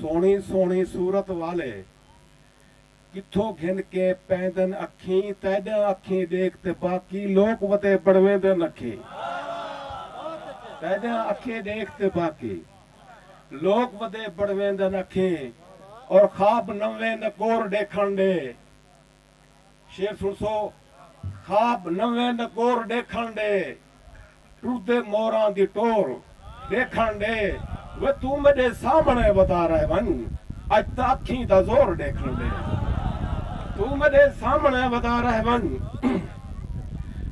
سوہݨی سوہݨی صورت والے کتھوں گھن کے پیندن اکھیں تیݙاں اکھیں ݙیکھ تے باقی لوک ودے بݨویندن اکھیں تیݙاں اکھیں ݙیکھ تے باقی لوک ودے بݨویندن اکھیں اور خواب نویں نکور ݙیکھݨ ݙے شعر سنسو خواب نویں دا گور ڈیکھن ڈے ٹردے موراں دی ٹور ڈیکھن ڈے وے توں میڈے سامنے ودا رہ ونج اج تاں اکھیں دا زور ڈیکھن ڈے توں میڈے سامنے ودا رہ ونج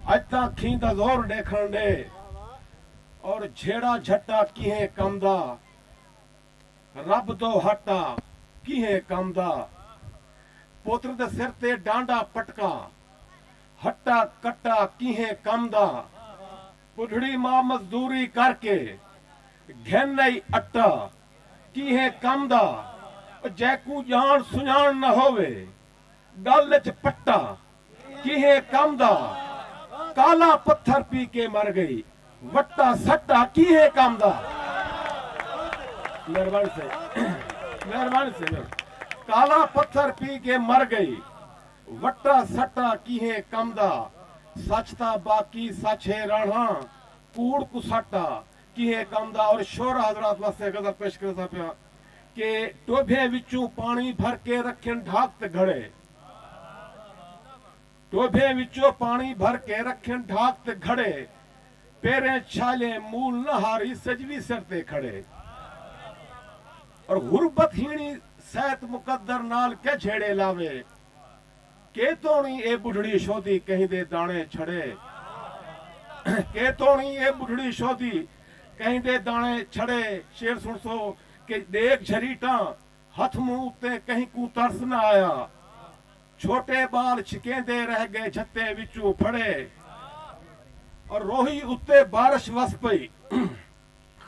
اج تاں اکھیں دا زور ڈیکھن ڈے اور جھیڑا جھٹا کہیں کم دا رب توں ہٹا کیہیں کم دا۔ پتر دے سر تے ڈانڈا پٹکا۔ ہٹا کٹا کیہیں کم دا۔ بڈھڑی ماء مزدوری کر کے۔ گھن آئی اٹا کیہیں کم دا۔ او جیکوں جان سنجان نہ ہووے۔ گل اچ پٹا کیہیں کم دا کالا پتھر پی کے مر گئی وٹا سٹا کیہیں کم دا مہربان سے مہربان سے کالا پتھر پی کے مر گئی وٹا سٹا کیہیں کم دا سچ تا باقی سچ ہے رہنا کوڑ کو سٹا کیہیں کم دا اور شور حضرات واسطے غزل پیش کرتا پیا کہ ٹوبھے وچوں پانی بھر کے رکھن ڈھاک تے گھڑے ٹودھیں وچوں پاݨی بھر کے رکھن ڈھاک تے گھڑے پیریں چھالیں مول نہ ہاری سجوی سر تے کھڑے اور غربت ہیݨی سیت مقدر نال کے جھیڑے لاوے کے توݨی اے ٻڈھڑی شودی کہیں دے داݨے چھڑے کے توݨی اے ٻڈھڑی شودی کہیں دے داݨے چھڑے شعر سݨسو کہ ݙیکھ جھریٹاں ہتھ منہ اتے کہیں کوں ترس نہ آیا۔ چھوٹے ٻال چھکیندے رہ ڳئے جھتیں وچوں پھڑے۔ اور روہی اتے بارش وس پئی۔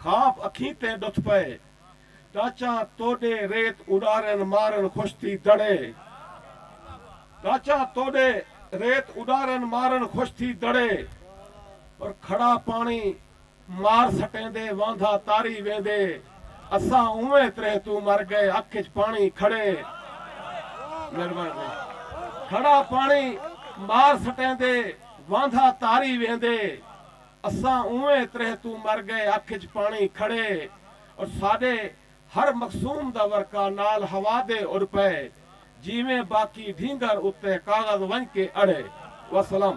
خواب اکھیں تے ݙتھ پئے۔ ٹاچاں توݙے ریت اݙارن مارن خوش تھی دڑے۔ ٹاچاں توݙے ریت اݙارن مارن خوش تھی دڑے۔ اور کھڑا پاݨی۔ مار سٹیندے واندا تاری ویندے اساں اونویں تریہہ توں مر گئے اکھ اچ پانی کھڑے مہربانی کھڑا پانی مار سٹیندے واندا تاری ویندے اساں اونویں تریہہ توں مر گئے اکھ اچ پانی کھڑے اور ساڈے ہر مقسوم دا ورقہ نال ہوا دے اڈ پئے جیویں باقی ڈھینگر اتے کاغذ ونج کے اڑے وسلام۔